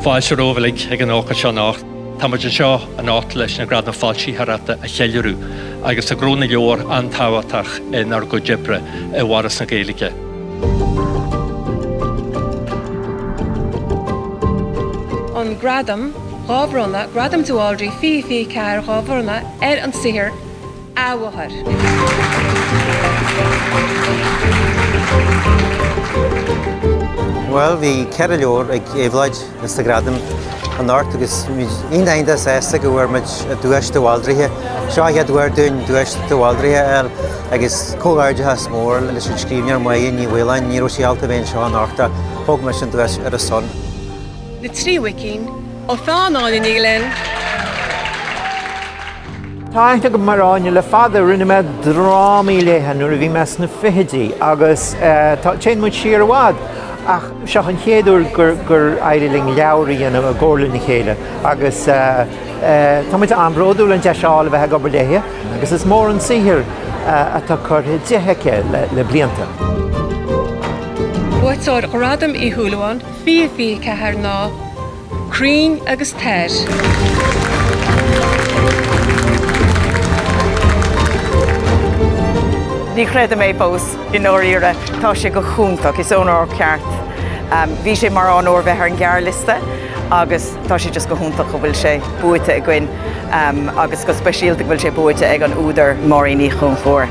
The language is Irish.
Fáilte romhaibh uilig ag an ócáid seo anocht. Tá muid anseo anocht leis na Gradaim Foilsitheoireachta a cheiliúradh agus tá Gnó na Leabhar an-tábhachtach inár gcuid oibre i bhForas na Gaeilge. an Gradam, dhá bhronnadh, Gradam de Bhaldraithe 2024, dhá bhronnadh ar an saothar, Bhuel, bhí ceithre leabhar ag Éabhlóid sna Gradaim anocht agus muid iontach sásta go bhfuair muid Duais de Bhaldraithe. Seo an chéad uair dúinn Duais de Bhaldraithe a fháil agus comhghairdeachas mór leis an scríbhneoir Máire Nic Mhaoláin, ní raibh sí ábalta a bheith anseo anocht, thóg mise an duais ar a son. Na Trí Mhuicín, ó pheann Áine Ní Ghlinn. Tá aithne agam ar Áine le fada. Rinne mé drámaí léithe nuair a bhí mé sna fichidí agus téann muid siar i bhfad ach seo an chéad uair gur éirigh linn leabhar a dhéanamh i gcomhar lena chéile agus tá muid an-bhródúil an deis a fháil a bheith ag obair léi agus is mór an saothar atá curtha di aici le blianta. Buaiteoir Ghradam Uí Shúilleabháin 2024 ná. Crainn agus Toir. Ní chreidim é fós, i ndáiríre. Tá sé go hiontach, is onóir ceart. Bhí sé mar onóir bheith ar an ghearrliosta agus tá sé just go hiontach go bhfuil sé buaite againn agus go speisialta go bhfuil sé buaite ag an údar Máirín Uí Chonchubhair.